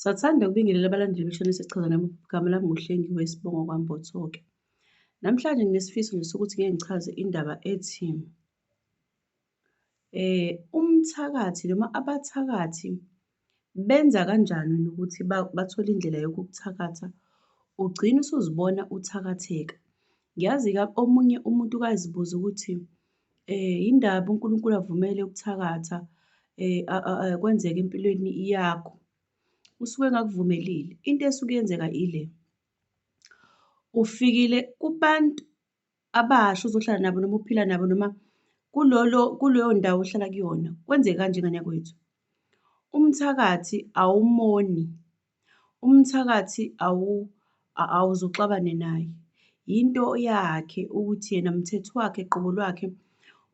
Sathanda ukubingelela abalandeli beshane sichaza nami igama lami nguhlengiwe isibongo kwambothoke namhlanje nginesifiso nje sokuthi ngeke ngichaze indaba ethi eh umthakathi noma abathakathi benza kanjani ukuthi bathole indlela yokukuthakatha ugcine usuzibona uthakatheka ngiyazi omunye umuntu ukazibuza ukuthi Eh, yindaba uNkulunkulu avumele ukuthakatha eh, kwenzeka empilweni yakho usuke engakuvumelile into esuke yenzeka ile ufikile kubantu abasha uzohlala nabo noma uphila nabo noma kulolo kuleyo ndawo ohlala kuyona kwenzeka kanje ngane yakwethu umthakathi awumoni Umthakathi awuze uxabane naye, yinto yakhe ukuthi yena mthetho wakhe qobo lwakhe.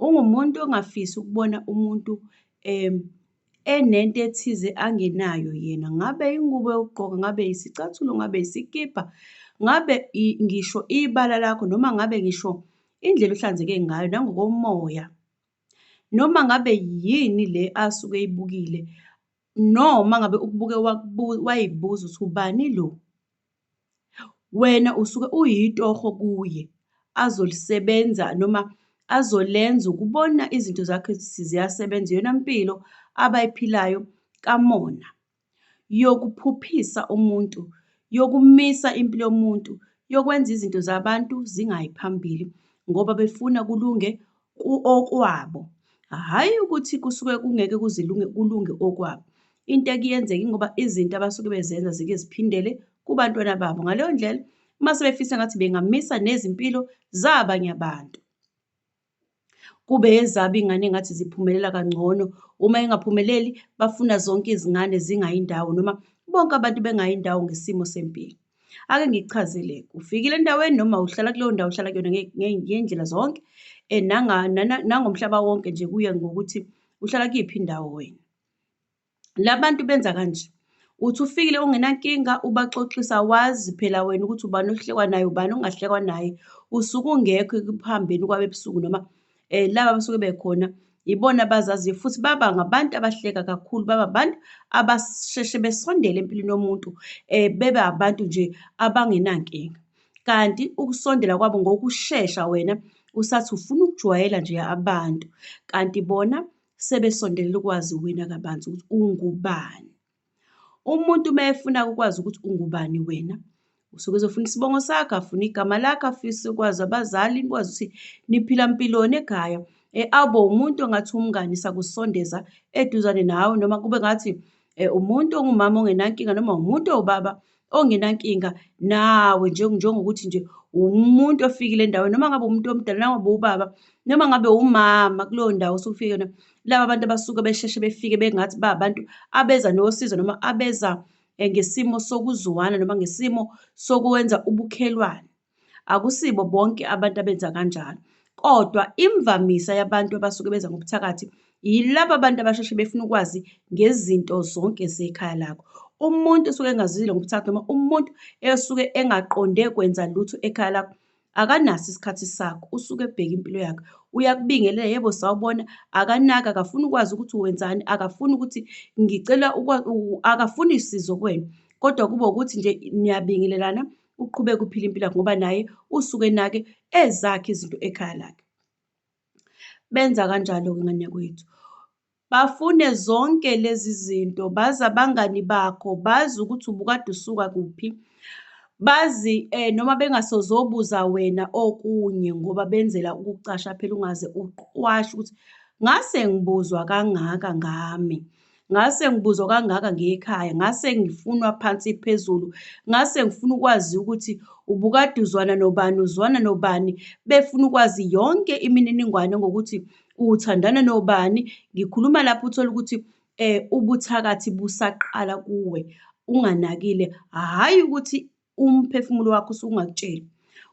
Ungumuntu ongafisi ukubona umuntu enento ethize angenayo yena, ngabe ingubo yokugqoka, ngabe isicathulo, ngabe isikibha, ngabe ngisho ibala lakho noma ngabe ngisho indlela ohlanzeke ngayo nangokomoya. Noma ngabe yini le asuke eyibukile No uma ngabe ukubuke wayibuza ukuthi ubani lo? Wena usuke uyitoho kuye, azolisebenza noma azolenza ukubona izinto zakhe ukuthi ziyasebenza. Iyona mpilo abayiphilayo kamona, yokuphuphisa umuntu, yokumisa impilo yomuntu, yokwenza izinto zabantu zingayi phambili ngoba befuna kulunge okwabo. Hhayi ukuthi kusuke kungeke kuzilunge kulunge okwabo. Into ekuyenzeka ingoba izinto abasuke bezenza zike ziphindele kubantwana babo. Ngaleyo ndlela uma sebefisa ngathi bengamisa nezimpilo zabanye abantu. Kube ezaba ingane engathi ziphumelela kangcono. Uma engaphumeleli bafuna zonke izingane zingayindawo noma bonke abantu bengayindawo ngesimo sempilo. Ake ngikuchazele, ufikile endaweni noma uhlala kuleyo ndawo uhlala kuyona ngey'ndlela zonke eh, nangomhlaba wonke nje kuye ngokuthi uhlala kuyiphi indawo wena. La bantu benza kanje, uthi ufikile ungenankinga ubaxoxisa wazi phela wena ukuthi ubani ohlekwa naye, ubani ongahlekwa naye, usuke ungekho ekuhambeni kwabebusuku noma eh laba basuke bekhona yibona abazaziyo futhi baba ngabantu abahleka kakhulu baba abantu abasheshe besondele empilweni yomuntu eh bebe abantu nje abangenankinga kanti ukusondela kwabo ngokushesha wena usathi ufuna ukujwayela nje abantu kanti bona sebesondelela ukwazi wena kabanzi ukuthi ungubani. Umuntu uma efuna ukwazi ukuthi ungubani wena usuke ezofuna isibongo sakho afune igama lakho afise ukwazi abazali nikwazi ukuthi niphila mpiloni ekhaya e, awube umuntu ongathi umngani sakusondeza eduzane nawe noma kube ngathi e, umuntu ongumama ongenankinga noma umuntu owubaba ongenankinga nawe njengokuthi nje umuntu ofikile endaweni noma ngabe umuntu omdala noma ngabe ubaba noma ngabe umama kuleyo ndawo osufike na laba bantu abasuke besheshe befike bengathi ba abantu abeza nosizo noma abeza eh, ngesimo sokuzwana noma ngesimo sokwenza ubukhelwane Akusibo bonke abantu abenza kanjalo, kodwa imvamisa yabantu abasuke beza ngobuthakathi yilaba bantu abasheshe befuna ukwazi ngezinto zonke zekhaya lakho. Umuntu osuke engazizile ngobuthakathi noma umuntu esuke engaqonde kwenza lutho ekhaya lakho akanaso isikhathi sakho, usuke ebheke impilo yakhe. Uyakubingelela, yebo sawubona, akanaki, akafuni ukwazi ukuthi wenzani, akafuni ukuthi ngicela akafuni sizo kuwena, kodwa kube ukuthi nje niyabingelelana, uqhubeke uphile impilo yakhe ngoba naye usuke enake ezakhe izinto ekhaya lakhe. Benza kanjalo-ke ngane yakwethu. Bafune zonke lezi zinto, bazi abangani bakho, bazi ukuthi ubukade usuka kuphi, bazi um noma bengasozobuza wena okunye ngoba benzela ukukucasha phela ungaze uqwashe ukuthi ngase ngibuzwa kangaka ngami. ngase ngibuzwa kangaka ngekhaya ngase ngifunwa phansi phezulu ngase ngifuna ukwazi ukuthi ubukade uzwana nobani uzwana nobani befuna ukwazi yonke imininingwane ngokuthi uthandana nobani ngikhuluma lapho uthola ukuthi um ubuthakathi busaqala kuwe unganakile hhayi ukuthi umphefumulo wakho usuke ungakutsheli.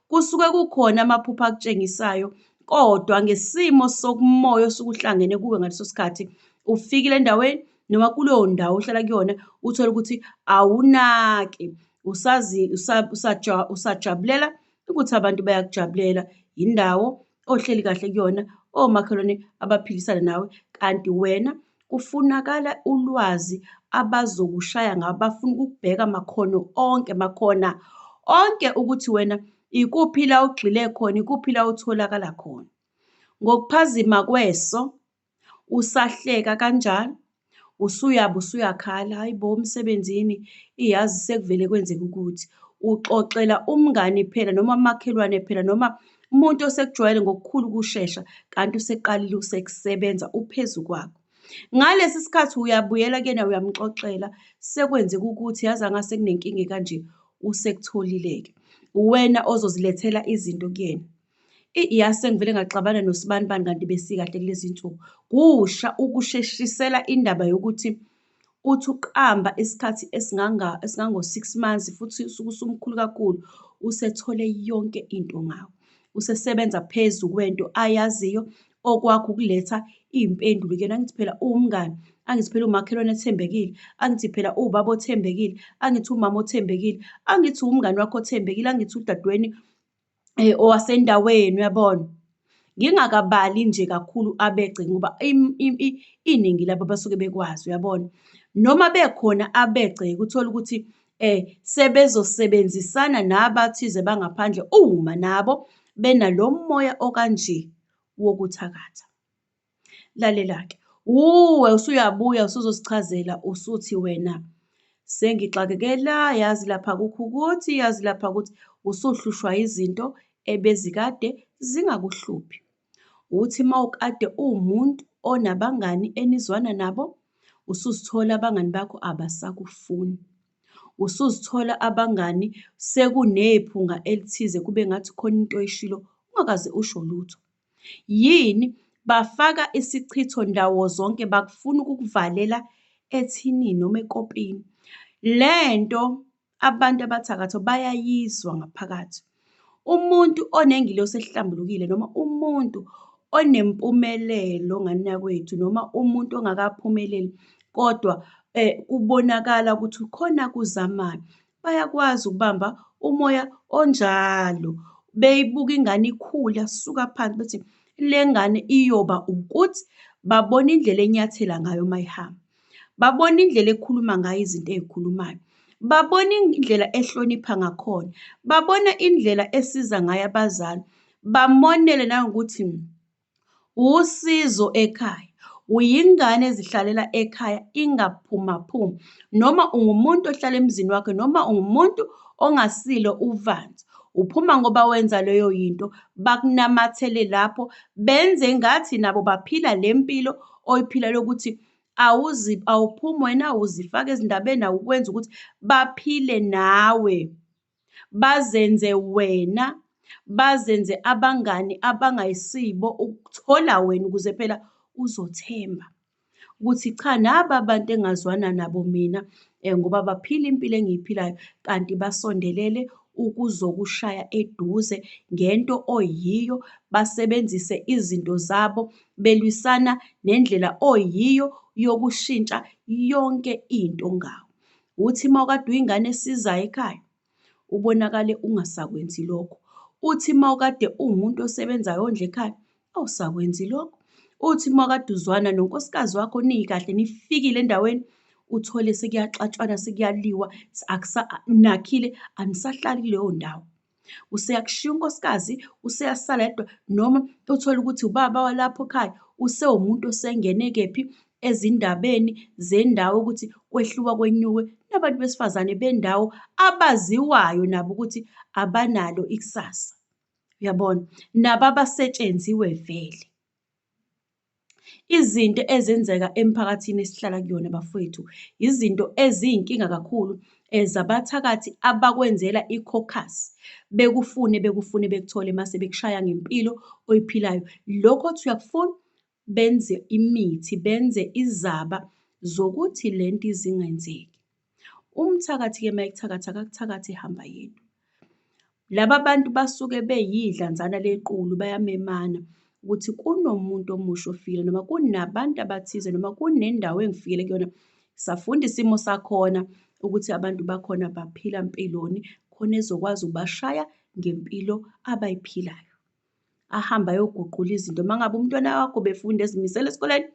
Kusuke kukhona amaphupho akutshengisayo kodwa ngesimo sokumoya osuke uhlangene kuwe ngaleso sikhathi ufikile endaweni noma kuleyo ndawo ohlala kuyona uthole ukuthi awunaki usazi usajabulela ukuthi abantu bayakujabulela yindawo ohleli kahle kuyona omakhelwane abaphilisana nawe kanti wena Kufunakala ulwazi abazokushaya ngabo bafuna ukukubheka makhono onke makhona onke ukuthi wena ikuphi la ugxile khona ikuphi la utholakala khona ngokuphazima kweso usahleka kanjalo usuyaba usuyakhala hayi bo umsebenzini iyazi sekuvele kwenzeka ukuthi uxoxela umngani phela noma umakhelwane phela noma Umuntu osekujwayele ngokukhulu ukushesha kanti useqalile usekusebenza uphezu kwakho. Ngalesi sikhathi uyabuyela kuyena uyamxoxela, sekwenzeka ukuthi yazi angase kunenkinga ekanje, usekutholile-ke. Uwena ozozilethela izinto kuyena. Iyase ngivele ngaxabana nosibanibani kanti besikahle kulezi nsuku. Kusha ukusheshisela indaba yokuthi Uthi uqamba isikhathi esinganga esingango-six months futhi usuke usumkhulu kakhulu, usethole yonke into ngawo. Usesebenza phezu kwento ayaziyo, okwakho ukuletha iy'mpendulo kuyena. Angithi phela uwumngani, angithi phela umakhelwane ethembekile, angithi phela uwubaba othembekile, angithi umama othembekile, angithi uwumngani wakho othembekile, angithi udadewenu owasendaweni uyabona. Ngingakabali nje kakhulu abegceki ngoba iningi labo basuke bekwazi uyabona. Noma bekhona abegceki uthole ukuthi sebezosebenzisana nabathize bangaphandle uma nabo bena lomoya okanje wokuthakatha. Lalela-ke, wuwe usuyabuya usuzosichazela usuthi wena sengixakeke la, yazi lapha kukho ukuthi, yazi lapha kuthi, usuhlushwa izinto ebezikade zingakuhluphi. Uthi uma ukade uwumuntu onabangani enizwana nabo, usuzithola abangani bakho abasakufuni. Usuzithola abangani sekunephunga elithize kube ngathi khona into oyishilo ungakaze usho lutho. Yini bafaka isichitho ndawo zonke bakufuna ukukuvalela ethinini noma ekopini. Le nto abantu abathakathi bayayizwa ngaphakathi. Umuntu onengilosi ehlambulukile noma umuntu onempumelelo nganinakwethu noma umuntu ongakaphumeleli kodwa kubonakala ukuthi khona akuzamayo, bayakwazi ukubamba umoya onjalo beyibuka ingane ikhula suka phansi bethi le ngane iyoba ukuthi babona indlela enyathela ngayo uma ihamba babona indlela ekhuluma ngayo izinto ezikhulumayo babona indlela ehlonipha ngakhona babona indlela esiza ngayo abazali bamonele nangokuthi Uwusizo ekhaya, uyingane ezihlalela ekhaya ingaphumaphumi noma ungumuntu ohlala emzini wakhe noma ungumuntu ongasilo uvanzi. Uphuma ngoba wenza leyo yinto, bakunamathele lapho benze ngathi nabo baphila le mpilo oyiphila lokuthi awuphumi wena uzifaka ezindabeni awukwenzi ukuthi baphile nawe. bazenze wena bazenze abangani abangayisibo ukuthola wena ukuze phela uzothemba ukuthi cha naba abantu engazwana nabo mina eh, ngoba baphila impilo engiyiphilayo kanti basondelele ukuzokushaya eduze ngento oyiyo basebenzise izinto zabo belwisana nendlela oyiyo yokushintsha yonke into ngawo Uthi uma ukade uyingane esizayo ekhaya ubonakale ungasakwenzi lokho. Uthi uma ukade uwumuntu osebenzayo ondla ekhaya awusakwenzi lokho. Uthi uma ukade uzwana nonkosikazi wakho niyikahle nifikile endaweni uthole sekuyaxatshwana sekuyaliwa nakhile anisahlali kuleyo ndawo. Useyakushiya unkosikazi, useyasala yedwa noma uthole ukuthi ubaba walapho ekhaya usewumuntu osengene kephi ezindabeni zendawo ukuthi kwehluka kwenyuke nabantu besifazane bendawo abaziwayo nabo ukuthi abanalo ikusasa. Uyabona? Nabo abasetshenziwe vele. Izinto ezenzeka emphakathini esihlala kuyona bafwethu, izinto eziyinkinga kakhulu zabathakathi abakwenzela i-caucus, bekufune bekufune bekuthole mase bekushaya ngempilo oyiphilayo. Lokho othi uyakufuna benze imithi, benze izaba zokuthi lento ize ingenzeki. Umthakathi ke mayekuthakatha akakuthakathi ehamba yedwa. Laba bantu basuke beyidlanzana lequlu bayamemana ukuthi kunomuntu omusha ofikile noma kunabantu abathize noma kunendawo engifikele kuyona safunda isimo sakhona ukuthi abantu bakhona baphila mpiloni khona ezokwazi ubashaya ngempilo abayiphilayo. ahambe ayoguqula izinto uma ngabe umntwana wakho befunda ezimisele esikoleni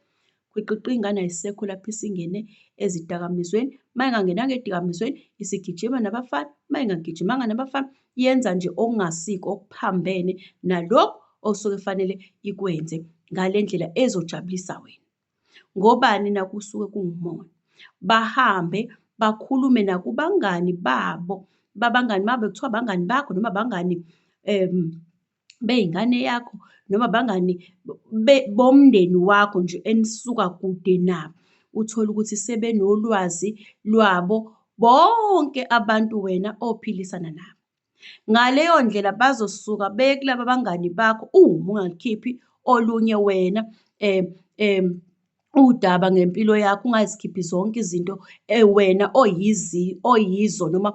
kwiqiqi ingane ayisekho lapho isingene ezidakamizweni uma ingangenanga edikamizweni isigijima nabafana uma ingagijimanga nabafana yenza nje okungasiko okuphambene nalokhu osuke fanele ikwenze ngale ndlela ezojabulisa wena Ngobani na? Kusuke kunguMoya. Bahambe bakhulume nakubangani babo, babangani babo kuthiwa abangani bakho noma abangani um bey'ngane yakho noma abangani bomndeni wakho nje enisuka kude nabo. Uthole ukuthi sebenolwazi lwabo bonke abantu wena ophilisana nabo. Ngaleyo ndlela bazosuka beye kulaba bangani bakho uma ungalukhiphi olunye wena um um udaba ngempilo yakho, ungazikhiphi zonke izinto wena oyizo noma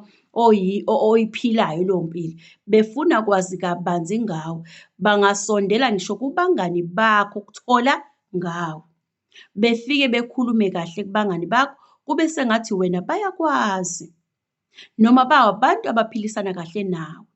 oyiphilayo leyo mpilo. Befuna kwazi kabanzi ngawe, bangasondela ngisho kubangani bakho ukuthola ngawe. Befike bekhulume kahle kubangani bakho, kube sengathi wena bayakwazi. noma babantu abaphilisana kahle nawe.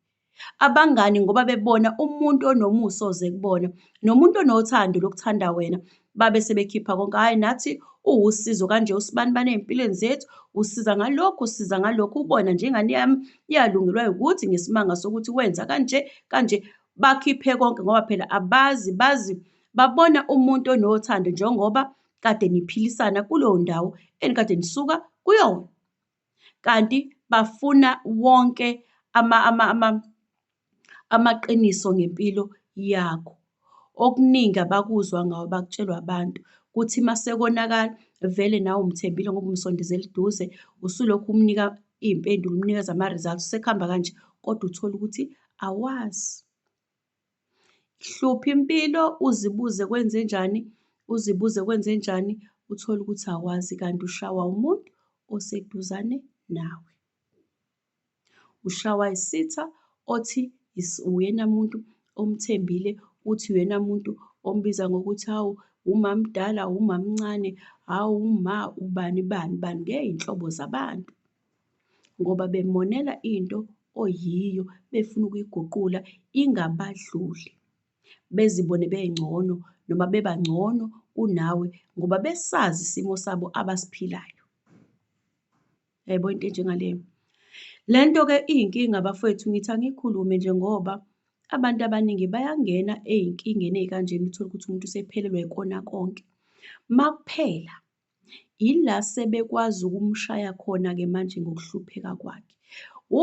Abangani ngoba bebona umuntu onomusa oze kubona nomuntu onothando lokuthanda wena babe sebekhipha konke, hhayi nathi uwusizo kanje usibanibani ey'mpilweni zethu, usiza ngalokhu, usiza ngalokhu, ubona nje ingane yami iyalungelwa ukuthi ngesimanga sokuthi wenza kanje kanje. Bakhiphe konke ngoba phela abazi bazi babona umuntu onothando njengoba kade niphilisana kuleyo ndawo enikade nisuka kuyona. kanti bafuna wonke amaqiniso ngempilo yakho. Okuningi abakuzwa ngawe bakutshelwa abantu, kuthi uma sekonakala vele nawe umthembile ngoba umsondezela eduze, usulokhu umnika iy'mpendulo, umnikeza ama-results, sekuhamba kanje kodwa uthole ukuthi awazi. Hlupha impilo uzibuze kwenzenjani, uzibuze kwenzenjani uthole ukuthi awazi kanti ushawa umuntu oseduzane nawe. Ushawa isitha othi uyena muntu omthembile, uthi uyena muntu ombiza ngokuthi hawu umamdala, umamncane, hawu uma ubani bani bani ngey'nhlobo zabantu. ngoba bemonela into oyiyo befuna ukuyiguqula ingabadluli bezibone bengcono noma beba ngcono kunawe ngoba besazi isimo sabo abasiphilayo. Yebo into enjengaleyo. Le nto-ke iyinkinga bafwethu ngithi angikhulume nje ngoba abantu abaningi bayangena ey'nkingeni ey'kanjena uthole ukuthi umuntu usephelelwa ikona konke. Makuphela Yila sebekwazi ukumshaya khona-ke manje ngokuhlupheka kwakhe.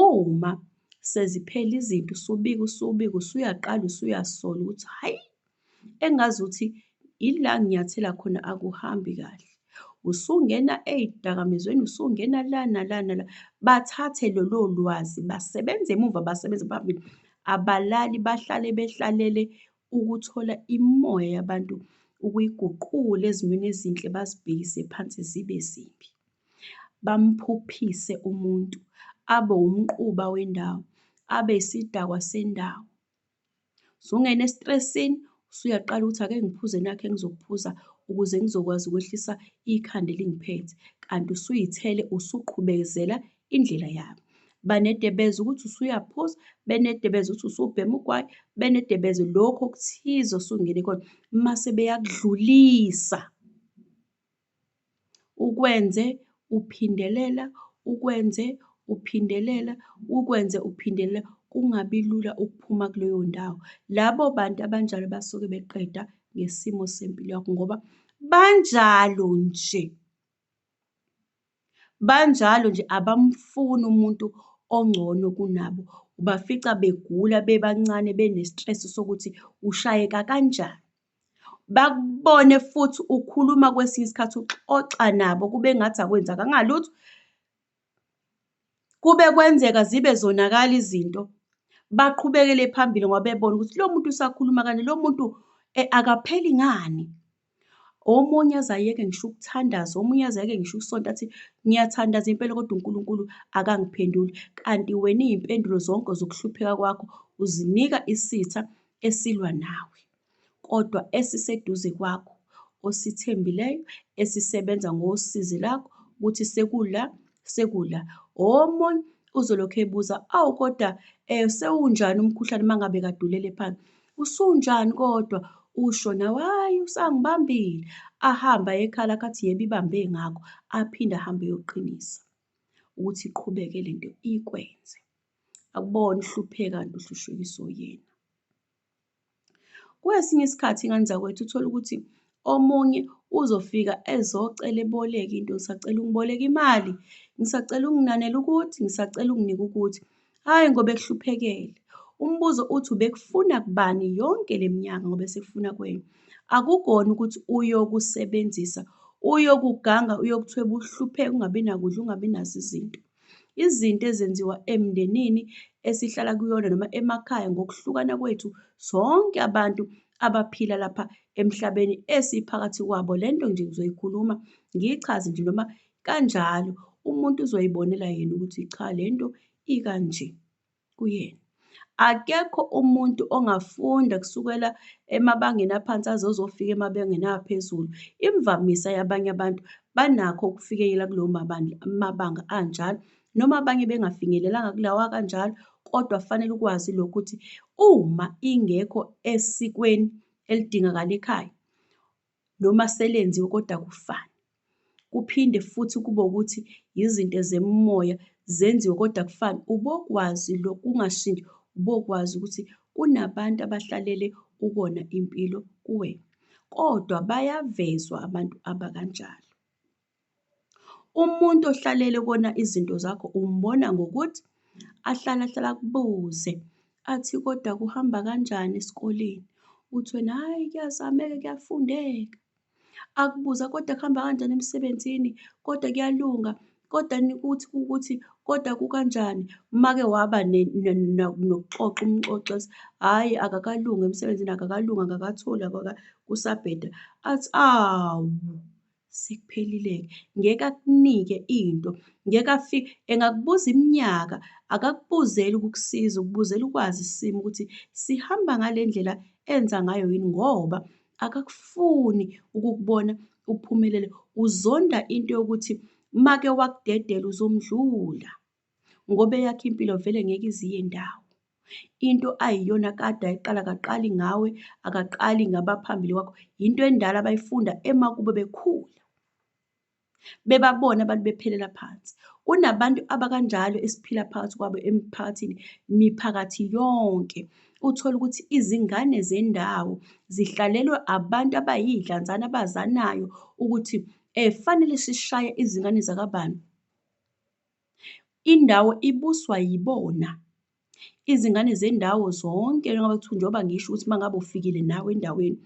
Uma seziphela izinto usubika usubika usuyaqala usuyasola ukuthi hhayi engazuthi ila nginyathela khona akuhambi kahle. Usungena ey'dakamizweni, usungena la nala nala. Bathathe lolo lwazi basebenze emuva basebenze phambili. Abalali bahlale behlalele ukuthola imimoya yabantu ukuyiguqule ezimweni ezinhle bazibhekise phansi zibe zimbi. Bamphuphise umuntu, abe umquba wendawo, abe isidakwa sendawo. Usungena estresini, usuyaqala ukuthi ake ngiphuze nakhe engizokuphuza ukuze ngizokwazi ukwehlisa ikhanda elingiphethe. Kanti usuyithele, usuqhubezela indlela yabo banedebeza ukuthi usuyaphuza benedebeza ukuthi usubhema ugwayi benedebeza lokho okuthize osungene khona mase beyakudlulisa ukwenze uphindelela ukwenze uphindelela ukwenze uphindelela kungabi lula ukuphuma kuleyo ndawo labo bantu abanjalo basuke beqeda ngesimo sempilo yakho ngoba banjalo nje Banjalo nje abamfuni umuntu ongcono kunabo, ubafica begula bebancane bene-stress sokuthi ushayeka kanjani. Bakubone futhi ukhuluma kwesinye isikhathi uxoxa nabo kube ngathi akwenzakanga lutho, Kube kwenzeka zibe zonakala izinto, baqhubekele phambili ngoba bebona ukuthi lo muntu usakhuluma kanje, lo muntu akapheli ngani. Omunye aze ayeke ngisho ukuthandaza, omunye aze ayeke ngisho ukusonta athi, ngiyathandaza impela kodwa uNkulunkulu akangiphenduli. Kanti wena iy'mpendulo zonke zokuhlupheka kwakho uzinika isitha esilwa nawe. kodwa esiseduze kwakho, osithembileyo, esisebenza ngosizi lakho, ukuthi sekula, sekula. O, omunye uzolokhu ebuza, awu, kodwa eh, sewunjani umkhuhlane uma ngabe kadulele phansi? Usunjani kodwa? Usho nawe, hhayi, usangibambile. Ahamba ekhala kathi yebo ibambe ngakho, aphinde ahambe eyoqinisa ukuthi iqhubeke le nto ikwenze. Akubona uhlupheka kanti uhlushwekiswa uyena. Kwesinye isikhathi ingane zakwethu uthole ukuthi omunye uzofika ezocela eboleke into, ngisacela ungiboleke imali, ngisacela unginanela ukuthi, ngisacela unginike ukuthi, hhayi ngoba ekuhluphekele. Umbuzo uthi ubekufuna kubani yonke le minyaka ngoba esekufuna kuwena? Akukona ukuthi uyokusebenzisa, uyokuganga, uyokuthwebula, uhlupheke, ungabi nakudla, ungabi nazo izinto. Izinto ezenziwa emndenini esihlala kuyona noma emakhaya ngokuhlukana kwethu sonke abantu abaphila lapha emhlabeni esiphakathi kwabo. Le nto nje ngizoyikhuluma ngiyichaze nje noma kanjalo umuntu uzoyibonela yena ukuthi cha le nto ikanje. kuyena. Akekho umuntu ongafunda kusukela emabangeni aphansi aze uzofika emabangeni aphezulu. Imvamisa yabanye abantu banakho ukufikela kulowo mabanga anjalo noma abanye bengafinyelelanga kulawa kanjalo kodwa kufanele ukwazi lokhu ukuthi uma ingekho esikweni elidingakala ekhaya noma selenziwe kodwa kufane. Kuphinde futhi kube ukuthi yizinto zemimoya zenziwe kodwa kufane. Ubokwazi lo kungashintshi, ubokwazi ukuthi kunabantu abahlalele ukona impilo kuwena. Kodwa bayavezwa abantu abakanjalo. Umuntu ohlalele kona izinto zakho umbona ngokuthi ahlale ahlale akubuze athi kodwa kuhamba kanjani esikoleni? Uthi wena hhayi kuyazameka kuyafundeka. Akubuza kodwa kuhamba kanjani emsebenzini? Kodwa kuyalunga? Kodwa ukuthi ukuthi kodwa kukanjani? Uma-ke waba nokuxoxa umxoxi ethi hhayi akakalungi emsebenzini akakalungi akakatholi kusabheda athi awu Sekuphelile-ke. Ngeke akunike into. Ngeke afike. Engakubuza iminyaka, akakubuzeli ukukusiza, ukubuzela ukwazi isimo ukuthi sihamba ngale ndlela enza ngayo yini ngoba akakufuni ukukubona uphumelele. Uzonda into yokuthi make wakudedela uzomdlula. ngoba eyakhe impilo vele ngeke iziye ndawo into ayiyona kade ayiqala kaqali ngawe akaqali ngabaphambili kwakho yinto endala abayifunda emakubo bekhula bebabona abantu bephelela phansi kunabantu abakanjalo esiphila phakathi kwabo emphakathini miphakathi yonke uthole ukuthi izingane zendawo zihlalelwe abantu abayidlanzana abazanayo ukuthi eh fanele sishaye izingane zakabani Indawo ibuswa yibona. Izingane zendawo zonke njengoba kuthiwa njengoba ngisho ukuthi uma ngabe ufikile nawe endaweni,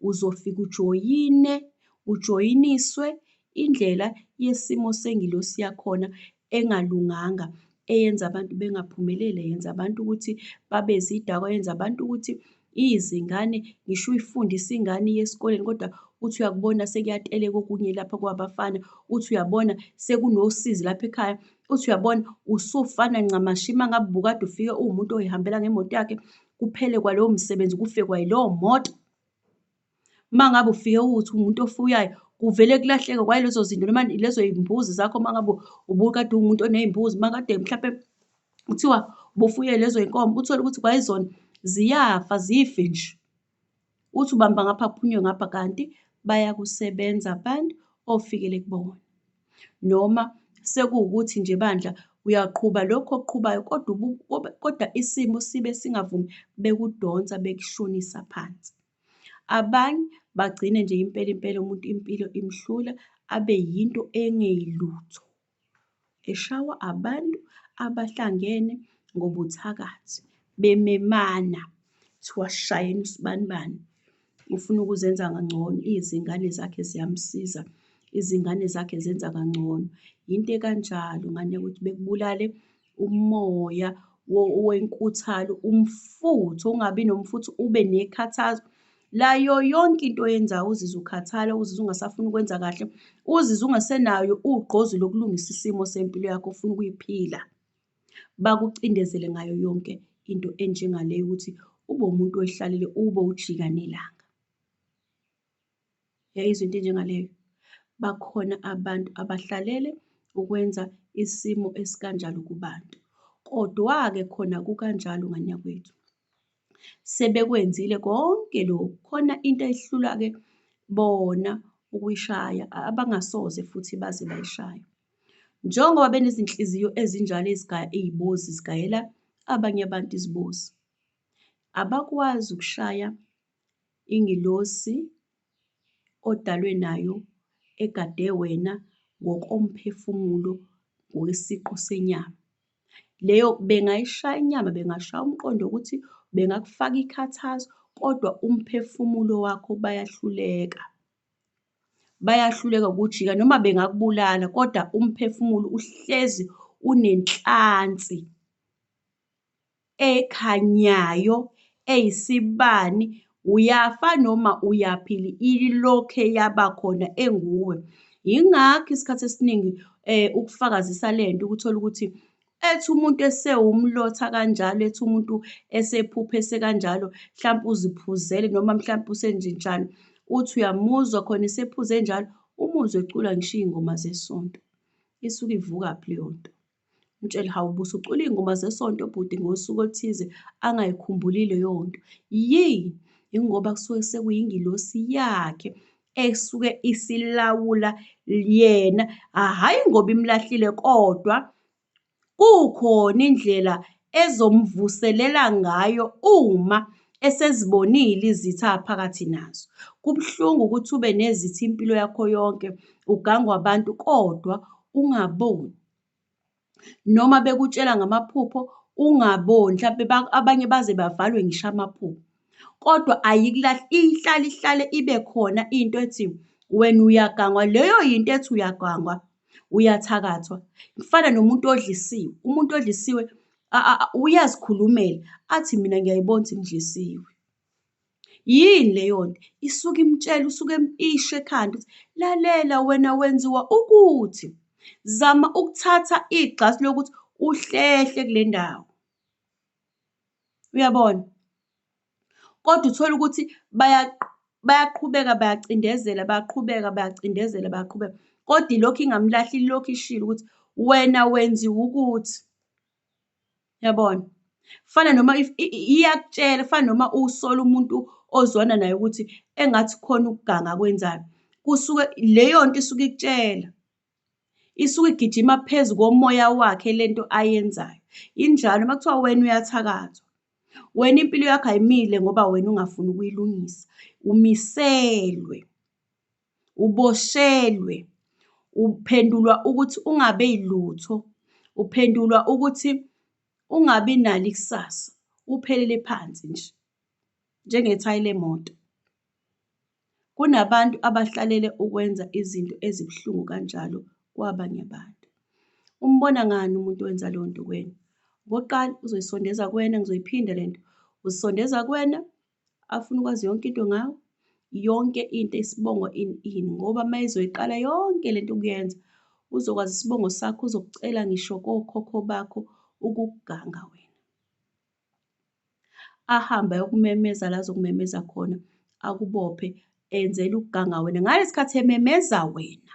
uzofika ujoyine, ujoyiniswe indlela yesimo sengilosi yakhona engalunganga, eyenza abantu bengaphumeleli, yenza abantu ukuthi babe zidakwa, yenza abantu ukuthi Izingane ngisho uyifundisa ingane iye esikoleni kodwa uthi uyakubona sekuyateleka okunye lapha kwabafana, uthi uyabona sekunosizi lapha ekhaya, uthi uyabona usufana ncamashi uma ngabe ubukade ufike uwumuntu oyihambela ngemoto yakhe, kuphele kwalowo msebenzi kufe kwayilowo moto. Uma ngabe ufike ukuthi umuntu ofuyayo kuvele kulahleke kwaye lezo zinto noma lezo yimbuzi zakho uma ngabe ubukade uwumuntu oney'mbuzi uma kade mhlampe kuthiwa ubufuye lezo y'nkomo uthole ukuthi kwayizona ziyafa zife nje. Uthi ubamba ngapha kuphunywe ngapha kanti bayakusebenza abantu ofikele kubona. Noma sekuwukuthi nje bandla uyaqhuba lokhu okuqhubayo kodwa kodwa isimo sibe singavumi bekudonsa bekushonisa phansi. Abanye bagcine nje impela impela umuntu impilo imhlula abe yinto engeyilutho, eshawa abantu abahlangene ngobuthakathi bememana kuthiwa shayeni usibanibani ufuna ukuzenza kangcono, izingane zakhe ziyamsiza, izingane zakhe zenza kangcono. Yinto ekanjalo ngane ukuthi bekubulale umoya wenkuthalo, umfutho, ungabi nomfutho, ube nekhathazo. Layo yonke into oyenzayo uzizwa ukhathala, uzizwa ungasafuni ukwenza kahle, uzizwa ungasenayo ugqozi lokulungisa isimo sempilo yakho ofuna ukuyiphila. Bakucindezele ngayo yonke into enjengale ukuthi ube umuntu oyihlalele, ube ujika nelanga. Yayizwa into enjengaleyo. Bakhona abantu abahlalele ukwenza isimo esikanjalo kubantu. Kodwa-ke khona kukanjalo nganyakwethu. Sebekwenzile konke lokhu. Khona into ehlula-ke bona ukuyishaya, abangasoze futhi baze bayishaya. Njengoba benezinhliziyo ezinjalo ezigaya iy'bozi, zigayela abanye abantu izibozi. Abakwazi ukushaya Ingilosi odalwe nayo egade wena ngokomphefumulo ngokwesiqu senyama. Leyo bengayishaya inyama, bengashaya umqondo ukuthi bengakufaka ikhathazo kodwa umphefumulo wakho bayahluleka. Bayahluleka ukujika noma bengakubulala kodwa umphefumulo uhlezi unenhlansi ekhanyayo eyisibani uyafa noma uyaphila ilokhe yaba khona enguwe yingakho isikhathi esiningi eh ukufakazisa lento ukuthola ukuthi ethi umuntu esewumlotha kanjalo ethi umuntu esephuphese kanjalo mhlawumbe uziphuzele noma mhlawumbe usenjenjalo uthi uyamuzwa khona esephuze njalo umuzwe ecula ngisho iy'ngoma zesonto isuke ivukaphi leyo nto. Ngitshele hawu busucula iy'ngoma zesonto bhuti ngosuku oluthize angayikhumbuli leyonto. Yini? Yingoba kusuke sekuyingilosi yakhe esuke isilawula yena, hhayi ngoba imlahlile kodwa kukhona indlela ezomvuselela ngayo uma esezibonile izitha aphakathi nazo. Kubuhlungu ukuthi ube nezitha impilo yakho yonke, ugangwa abantu kodwa ungaboni. noma bekutshela ngamaphupho ungaboni mhlampe abanye baze bavalwe ngisho amaphupho. Kodwa ayikulahli ihlale ihlale ibe khona into ethi wena uyagangwa, leyo yinto ethi uyagangwa uyathakathwa. Kufana nomuntu odlisiwe, umuntu odlisiwe uyazikhulumela athi mina ngiyayibona ukuthi ngidlisiwe. Yini leyonto isuke imtshela usuke empisha ekhanda ukuthi lalela wena wenziwa ukuthi zama ukuthatha igxasi lokuthi uhlehle kule ndawo. Uyabona? Kodwa uthole ukuthi bayaqhubeka bayacindezela, bayaqhubeka bayacindezela bayaqhubeka kodwa ilokhu ingamlahli ilokhu ishilo ukuthi wena wenziwa ukuthi. Yabona? Kufana noma if iyakutshela kufana noma usola umuntu ozwana naye ukuthi engathi khona ukuganga akwenzayo. Kusuke leyo nto isuke ikutshela. Isuke igijima phezu komoya wakhe lento ayenzayo. Injalo uma kuthiwa wena uyathakathwa. Wena impilo yakho ayimile ngoba wena ungafuni ukuyilungisa. Umiselwe. uboshelwe, uphendulwa ukuthi ungabe yilutho, uphendulwa ukuthi ungabi nalo ikusasa, uphelele phansi nje, njengethayi lemoto. Kunabantu abahlalele ukwenza izinto ezibuhlungu kanjalo kwabanye abantu. Umbona ngani umuntu owenza leyo nto kuwena? Okokuqala, uzoyisondeza kuwena, ngizoyiphinda le nto, uzisondeza kuwena, afuna ukwazi yonke into ngawo yonke into isibongo in in ngoba uma ezoyiqala yonke lento ukuyenza uzokwazi isibongo sakho uzokucela ngisho kokhokho bakho ukuganga wena ahambe ayokumemeza la azokumemeza khona akubophe enzela ukuganga wena ngalesikhathi ememeza wena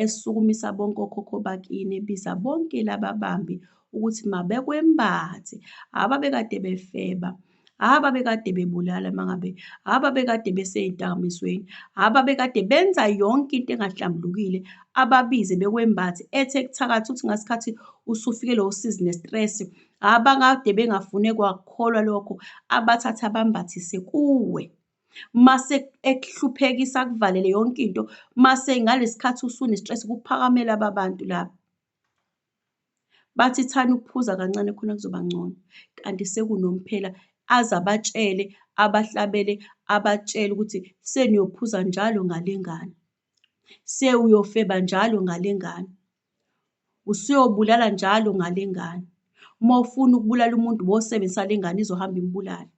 esukumisa bonke okhokho bakini ebiza bonke laba bambi ukuthi mabekwembathe haba bekade befeba haba bekade bebulala mangabe haba bekade beseyintakamisweni haba bekade benza yonke into engahlambulukile ababize bekwembathe ethe kuthakathi uthi ngasikhathi usufike lo usizi nestress abakade bengafune kwakholwa lokho abathatha bambathise kuwe mase ekuhluphekisa akuvalele yonke into mase ngalesikhathi usunestress kuphakamela ababantu laba bathi thani ukuphuza kancane khona kuzoba ngcono kanti sekunomphela aze abatshele abahlabele abatshele ukuthi seniyophuza njalo ngalengane sewuyofeba njalo ngalengane usuyobulala njalo ngalengane uma ufuna ukubulala umuntu wosebenzisa lengane izohamba imbulala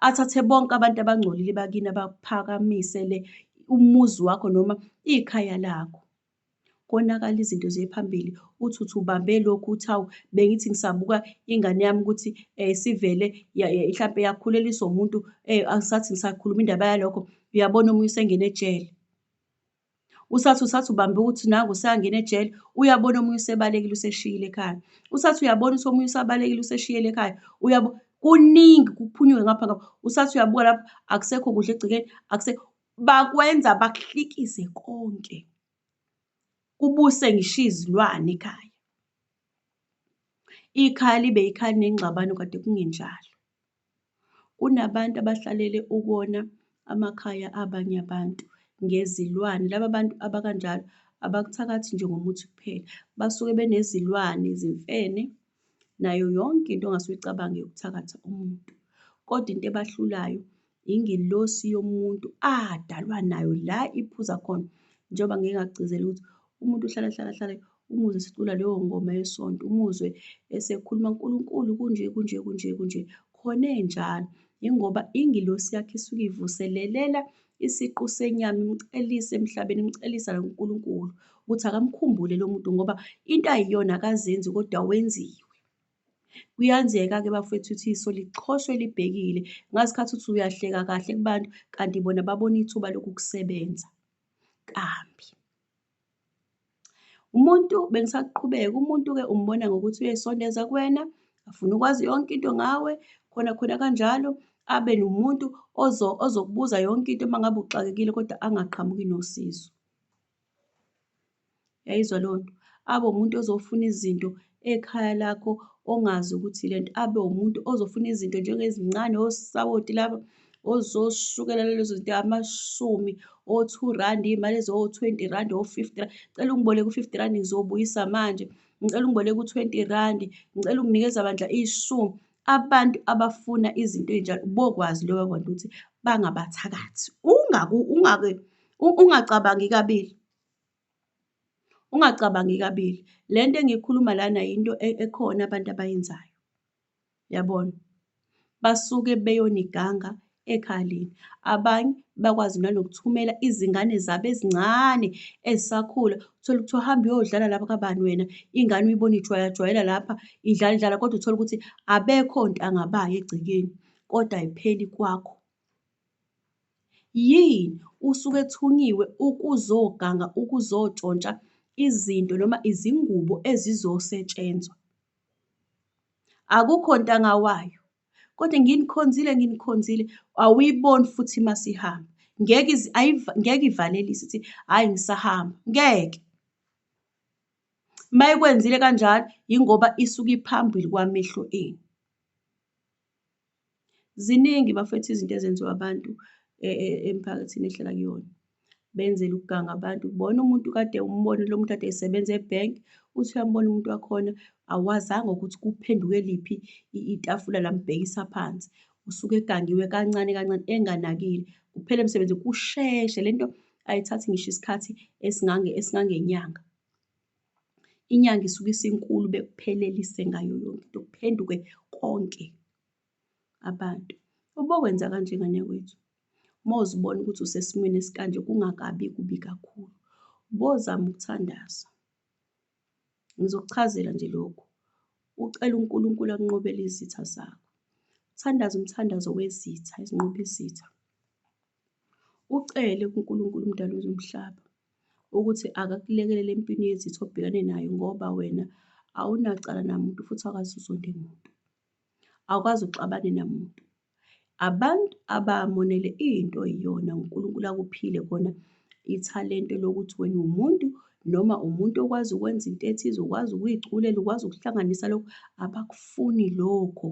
athathe bonke abantu abangcolile bakini abaphakamisele umuzi wakho noma ikhaya lakho konakala izinto ziye phambili uthi uthi ubambe lokhu uthi awu bengithi ngisabuka ingane yami ukuthi um sivele mhlampe yakhuleliswa umuntu um angisathi ngisakhuluma indaba yalokho uyabona omunye usengene ejele. usathi usathi ubambe ukuthi naku usangena ejele uyabona omunye usebalekile useshiyile ekhaya usathi uyabona ukuthi omunye usabalekile useshiyele ekhaya uyabo kuningi kuphunyuke ngapha ngapha usathi uyabuka lapho akusekho kudla egcekeni akusekho bakwenza bakuhlikize konke kubuse ngisho izilwane ekhaya ikhaya libe ikhaya nengxabano kade kungenjalo Kunabantu abahlalele ukona amakhaya abanye abantu ngezilwane. Laba bantu abakanjalo abakuthakathi nje ngomuthi kuphela, basuke benezilwane, izimfene, nayo yonke into ongase uyicabange yokuthakatha umuntu. Kodwa into ebahlulayo ingelosi yomuntu adalwa nayo la iphuza khona njengoba ngike ngakugcizela ukuthi Umuntu uhlale ahlale ahlale umuzwe esicula leyo ngoma yesonto, umuzwe esekhuluma uNkulunkulu kunje kunje kunje kunje khona enjalo. Yingoba ingilosi yakhe isuke ivuselelela isiqu senyama imcelise emhlabeni imcelisa noNkulunkulu ukuthi akamkhumbule lo muntu ngoba into ayiyona akazenzi kodwa wenziwe. Kuyenzeka-ke bafethu ukuthi iso lixhoshwe libhekile ngazikhathi uthi uyahleka kahle kubantu kanti bona babona ithuba lokukusebenza kambi. Umuntu bengisaqhubeka, umuntu-ke umbona ngokuthi uyayisondeza kuwena, afune ukwazi yonke into ngawe, khona khona kanjalo abe nomuntu ozokubuza yonke into uma ngabe uxakekile kodwa angaqhamuki nosizo. Uyayizwa leyo nto? Abe umuntu ozofuna izinto ekhaya lakho ongazi ukuthi lento abe umuntu ozofuna izinto njengezincane osawoti laba ozoshukela lezo zinto amashumi o-two randi iy'mali eziwo-twenty randi o-fifty randi cela ungiboleke u-fifty randi ngizobuyisa manje ngicela ungiboleke u-twenty randi ngicela unginikeza bandla ishumi abantu abafuna izinto ey'njalo bokwazi loba bantu ukuthi bangabathakathi ungacabangi kabili Ungacabangi kabili, le nto engiyikhuluma lana yinto e-, ekhona abantu abayenzayo. Yabona? Basuke beyoniganga ekhaya lenu. Abanye bakwazi nanokuthumela izingane zabo ezincane ezisakhula, uthole ukuthi uhamba uyodlala lapha kabani wena, ingane uyibona ijwayajwayela lapha, idlala idlala kodwa uthole ukuthi abekho ntanga bayo egcekeni, kodwa ayipheli kwakho. Yini usuke ethunyiwe ukuzoganga ukuzotshontsha izinto noma izingubo ezizosetshenzwa. Akukho ntanga wayo kodwa nginikhonzile nginikhonzile awuyiboni futhi masihamba. Ngeke ngeke ivalelise ithi hhayi ngisahamba, ngeke. Mayikwenzile kanjalo yingoba isuke iphambili kwamehlo enu. Ziningi bafwethu izinto ezenziwa abantu e, e, emphakathini ehlala kuyona. Benzela ukuganga abantu. Bona umuntu kade umbone lo muntu kade esebenza ebhenk, uthi uyambona umuntu wakhona, awazanga ukuthi kuphenduke liphi itafula lambhekisa phansi. Usuke egangiwe kancane kancane enganakile. Kuphele emsebenzi kusheshe lento ayithathi ngisho isikhathi esingange esingangenyanga. Inyanga isuke isinkulu bekuphelelise ngayo yonke into kuphenduke konke abantu. Ubokwenza kanje ngane kwethu uma uzibona ukuthi usesimweni esikanje kungakabi kubi kakhulu bozama ukuthandaza. Ngizokuchazela nje lokhu, ucela uNkulunkulu akunqobele izitha zakho. Thandaza umthandazo wezitha ezinqoba izitha. Ucele kuNkulunkulu uMdali wezomhlaba ukuthi akakulekelele empini yezitha obhekane nayo ngoba wena awunacala namuntu futhi awukwazi uzonde muntu. Awukwazi uxabane namuntu. Abantu abamonele into iyona uNkulunkulu akuphile kona ithalente lokuthi wena umuntu noma umuntu okwazi ukwenza into ethize ukwazi ukuyiculela ukwazi ukuhlanganisa lokho abakufuni lokho.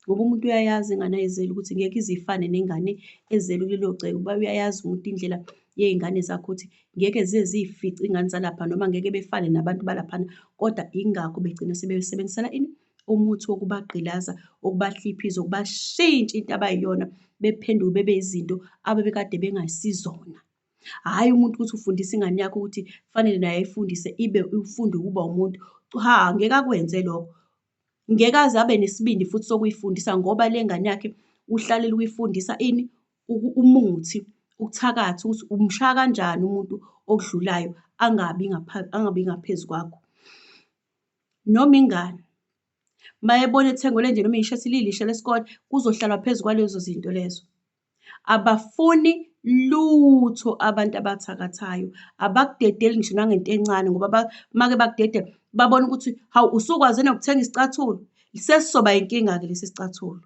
ngoba umuntu uyayazi ingane ayizele ukuthi ngeke ize ifane nengane ezelwe kulelo gceke uba uyayazi umuntu indlela yey'ngane zakhe ukuthi ngeke ziye ziy'fice iy'ngane zalapha noma ngeke befane nabantu balaphana kodwa yingakho begcina sebesebenzisela ini umuthi wokubagqilaza ukubahliphiza ukubashintsha into abayiyona bephenduke bebe izinto abebekade bengasizona hhayi umuntu ukuthi ufundisa ingane yakho ukuthi kufanele naye ayifundise ibe ufunde ukuba umuntu cha ngeke akwenze lokho Ngeke aze abe nesibindi futhi sokuyifundisa ngoba le ngane yakhe uhlalele ukuyifundisa ini umuthi ukuthakatha ukuthi umshaya kanjani umuntu okudlulayo angabi angabi ngaphezu kwakho noma ingane mayebona ethengelwe nje noma ishethi lilishe lesikole kuzohlalwa phezu kwalezo zinto lezo Abafuni lutho abantu abathakathayo, abakudedeli ngisho nangento encane ngoba make bakudedela babone ukuthi hawu usukwaze nokuthenga isicathulo, sesizoba inkinga-ke lesi sicathulo.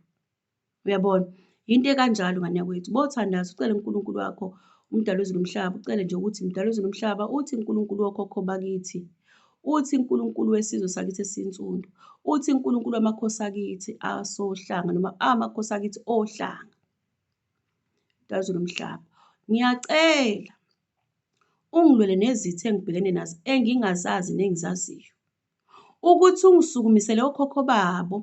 Uyabona? Yinto ekanjalo ngane yakwethu, bothandaza ucele uNkulunkulu wakho uMdali wezulu nomhlaba, ucele nje ukuthi Mdali wezulu nomhlaba, uthi uNkulunkulu wokhokho bakithi, Uthi Nkulunkulu wesizwe sakithi esinsundu. Uthi Nkulunkulu wamakhosi akithi asohlanga noma amakhosi akithi ohlanga. Dazo lomhlaba. Ngiyacela ungilwele nezithe engibhekene nazo engingazazi nengizaziyo. Ukuthi ungisukumisele okhokho babo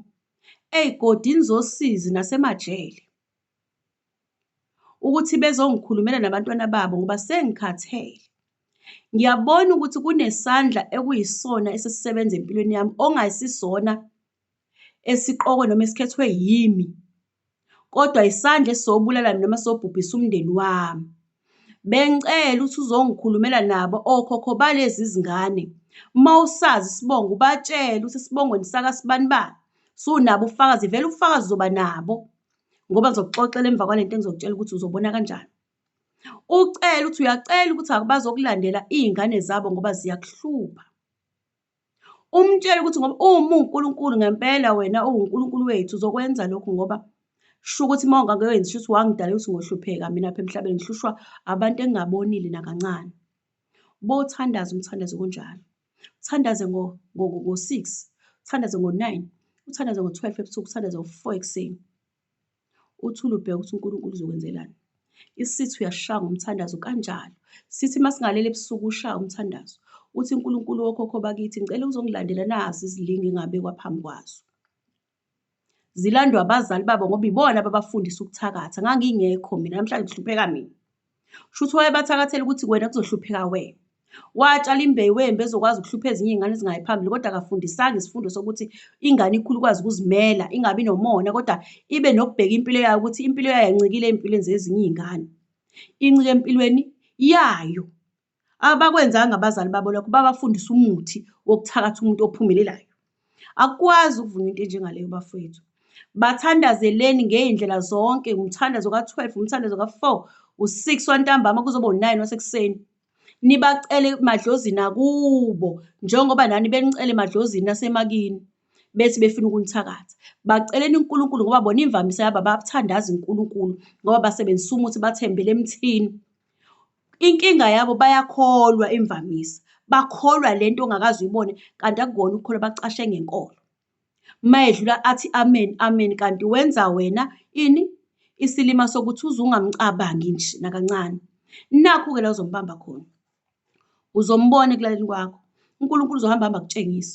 ey'godini zosizi nasemajele. ukuthi bezongikhulumela nabantwana babo ngoba sengikhathele. Ngiyabona ukuthi kunesandla ekuyisona esisisebenza empilweni yami ongasisona esiqokwe noma esikhethwe yimi, kodwa isandla esisobulala mina noma sobhubhisa umndeni wami. Bengicela ukuthi uzongikhulumela nabo okhokho balezi zingane. Uma usazi isibongo ubatshele ukuthi esibongweni saka sibani bani. Sunabo ubufakazi, vele ubufakazi uzoba nabo ngoba ngizokuxoxela emva kwale nto engizokutshela ukuthi uzobona kanjani. Ucele ukuthi uyacela ukuthi bazokulandela iy'ngane zabo ngoba ziyakuhlupha. Umtshele ukuthi ngoba uma uwuNkulunkulu ngempela wena uwuNkulunkulu wethu uzokwenza lokhu ngoba sho ukuthi uma ungakwenzi shuthi wangidala ukuthi ngohlupheka mina apha emhlabeni ngihlushwa abantu engingabonile nakancane. Bothandaza umthandazo kunjalo. Uthandaze ngo-six, uthandaze ngo-nine, uthandaze ngo-twelve ebusuku, uthandaze ngo-four ekuseni. Uthule ubheka ukuthi uNkulunkulu uzokwenzelani. Isitha uyasishaya ngomthandazo kanjalo. Sithi masingalele ebusuku ushaya umthandazo. Uthi uNkulunkulu wokhokho bakithi ngicela uzongilandela nazi izilingi engabekwa phambi kwazo. Zilandwa abazali babo ngoba ibona ababafundisa ukuthakatha. Ngangingekho mina namhlanje kuhlupheka mina. Shuthi wayebathakathela ukuthi kwena kuzohlupheka wena. Watshala imbewu wembe ezokwazi ukuhlupha ezinye iy'ngane ezingayi phambili kodwa akafundisanga isifundo sokuthi ingane ikhulu ikwazi ukuzimela ingabi nomona kodwa ibe nokubheka impilo yayo ukuthi impilo yayo yancikile ey'mpilweni zezinye iy'ngane. Incike empilweni yayo Abakwenzanga abazali babo lokho, babafundisa umuthi wokuthakatha umuntu ophumelelayo. Akukwazi ukuvuma into enjengaleyo bafowethu. Bathandazeleni ngey'ndlela zonke, umthandazo ka-twelve, umthandazo ka-four, u-six wantambama kuzoba u-nine wasekuseni. Nibacele emadlozini akubo, njengoba nani benicela emadlozini asemakini, bethi befuna ukunithakatha. Baceleni uNkulunkulu ngoba bona imvamisa yabo abathandazi uNkulunkulu ngoba basebenzisa umuthi, bathembele emthini. Inkinga yabo bayakholwa imvamisa, bakholwa le nto ongakaze uyibone kanti akukona ukukholwa bacashe ngenkolo. Uma edlula athi amen amen kanti wenza wena ini isilima sokuthi uze ungamcabangi nje nakancane. Nakhu-ke la uzombamba khona, uzombona ekulaleni kwakho. UNkulunkulu uzohamba hamba akutshengise.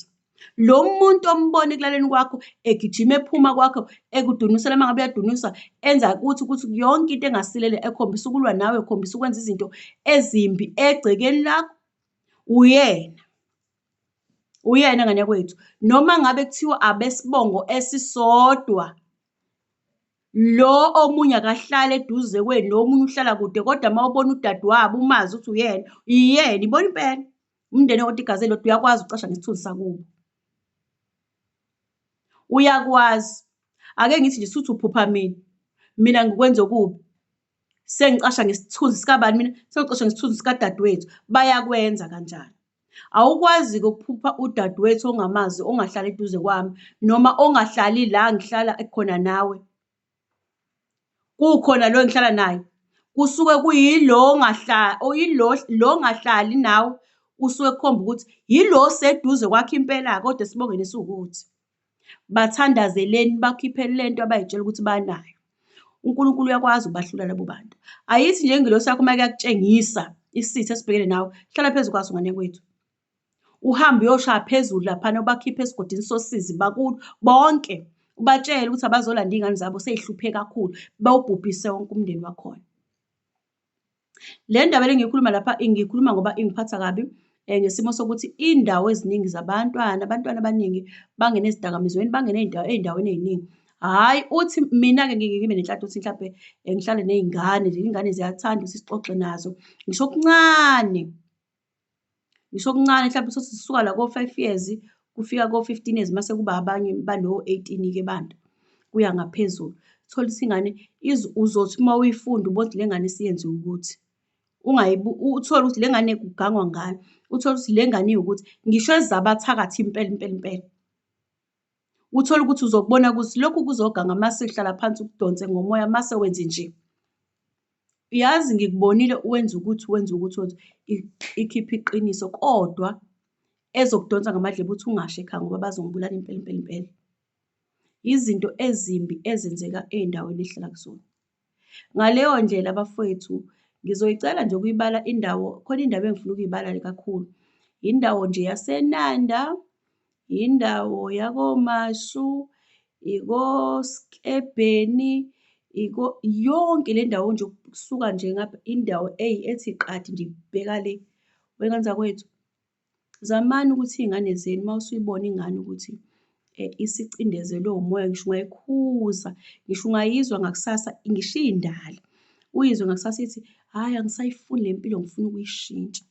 Lo muntu ombona ekulaleni kwakho egijima ephuma kwakho ekudunusela uma ngabe uyadunuswa enza ukuthi ukuthi yonke into engasilele ekhombisa ukulwa nawe ekhombisa ukwenza izinto ezimbi egcekeni lakho uyena uyena ngane kwethu noma ngabe kuthiwa abesibongo esisodwa lo omunye akahlale eduze kwenu lo omunye uhlala kude kodwa uma ubona udadewabo umazi ukuthi uyena iyena ibona impela umndeni okodwa igazi elilodwa uyakwazi ucasha ngesithunzi sakubo uyakwazi ake ngithi nje suthi uphupha mina mina ngikwenza okubi sengicasha ngesithunzi sikabani mina sengicasha ngesithunzi sikadadewethu bayakwenza kanjani awukwazi-ke ukuphupha udadewethu ongamazi ongahlali eduze kwami noma ongahlali la ngihlala khona nawe Kukhona lo engihlala naye kusuke kuyilo lo ongahlali nawe usuke ekhomba ukuthi yilo oseduze kwakho impela-ke kodwa esibongweni esiwukuthi. Bathandazeleni bakhiphe le nto abay'tshela ukuthi banayo. UNkulunkulu uyakwazi ukubahlula labo bantu. Ayithi nje ingelosi yakho uma yakutshengisa isitha esibhekene nawe, hlala phezu kwaso ngane yakwethu. Uhambe uyoshaya phezulu laphana ubakhiphe esigodini sosizi bakuthi bonke ubatshele ukuthi abazolanda iy'ngane zabo sey'hluphe kakhulu bewubhubhise wonke umndeni wakhona. Le ndaba le ngiyikhuluma lapha ngiyikhuluma ngoba ingiphatha kabi um ngesimo sokuthi iy'ndawo eziningi zabantwana abantwana abaningi bangene ezidakamizweni bangene ey'ndaweni ey'ningi. Hhayi uthi mina-ke ngike ngibe nenhlanhla ukuthi mhlampe eh, ngihlale ney'ngane nje iy'ngane ziyathanda ukuthi sixoxe nazo ngisho okuncane Ngisho okuncane mhlawumbe sothi sisuka la ko-five years kufika ko-fifteen years mase kuba abanye bano-eighteen-ke banda kuya ngaphezulu. Uthole ukuthi ingane uzothi uma uyifunda ubone ukuthi le ngane isiyenze ukuthi. Uthole ukuthi le ngane kugangwa ngayo, uthole ukuthi le ngane iwukuthi, ngisho ezabathakathi impela impela impela. Uthole ukuthi uzokubona ukuthi lokhu kuzoganga mase uhlala phansi ukudonse ngomoya mase wenze nje. Yazi ngikubonile wenza ukuthi wenza ukuthi wenza ikhiphe iqiniso kodwa ezokudonsa ngamadlebe uthi ungasho ekhaya ngoba bazongibulala impela impela impela. Izinto ezimbi ezenzeka ey'ndaweni ehlala kuzona. Ngaleyo ndlela bafwethu, ngizoyicela nje ukuyibala indawo, khona indawo engifuna ukuyibala kakhulu. Indawo nje yaseNanda, indawo yakoMashu, ikoSkebheni, iko yonke le ndawo nje ukusuka nje ngapha, indawo eyi ethi qatha nje ibheka le, wena nzakwethu. Zamani ukuthi iy'ngane zenu uma usuyibona ingane ukuthi isicindezelwe umoya, ngisho ungayikhuza, ngisho ungayizwa ngakusasa, ngisho iy'ndala, uyizwe ngakusasa ithi, hhayi angisayifuni le mpilo ngifuna ukuyishintsha.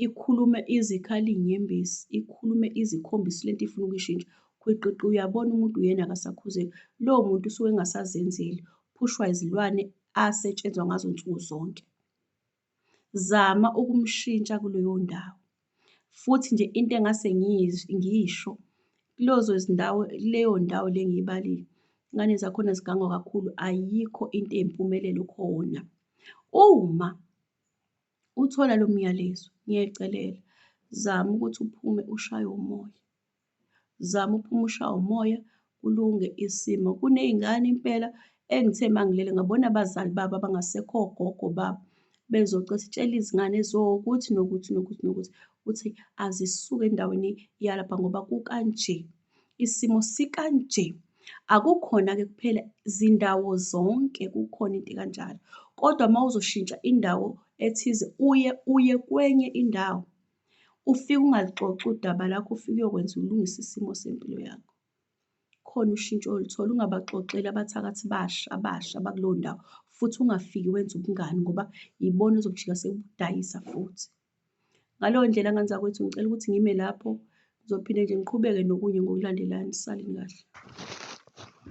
Ikhulume izikhali iy'nyembezi, ikhulume izikhombisa le nto ifuna ukuyishintsha, khwiqiqi uyabona umuntu uyena akasakhuzeki. Lowo muntu usuke engasazenzeli, uphushwa izilwane asetshenzwa ngazo nsuku zonke. Zama ukumshintsha kuleyo ndawo. Futhi nje into engase ngiyisho kulezo zindawo, kuleyo ndawo le engiyibalile, iy'ngane zakhona zigangwa kakhulu, ayikho into eyimpumelelo khona. Uma uthola lo myalezo, ngiyacelela zama ukuthi uphume ushaywe umoya. Zama uphume ushawa umoya kulunge isimo. Kuney'ngane impela engithe mangilele ngabona abazali babo abangasekho ogogo babo bezocela sitshela izingane eziwokuthi nokuthi nokuthi nokuthi ukuthi azisuke endaweni yalapha ngoba kukanje isimo sikanje akukhona-ke kuphela zindawo zonke kukhona into ekanjalo kodwa uma uzoshintsha indawo ethize uye uye kwenye indawo Ufike ungaluxoxi udaba lakho, ufike uyokwenza ulungise isimo sempilo yakho. Khona ushintsho oluthola, ungabaxoxeli abathakathi basha abasha abakuleyo ndawo, futhi ungafiki wenza ubungani ngoba yibona ezokujika sekudayisa futhi. Ngaleyo ndlela ngane zakwethu ngicela ukuthi ngime lapho, ngizophinde nje ngiqhubeke nokunye ngokulandelana. Salini kahle.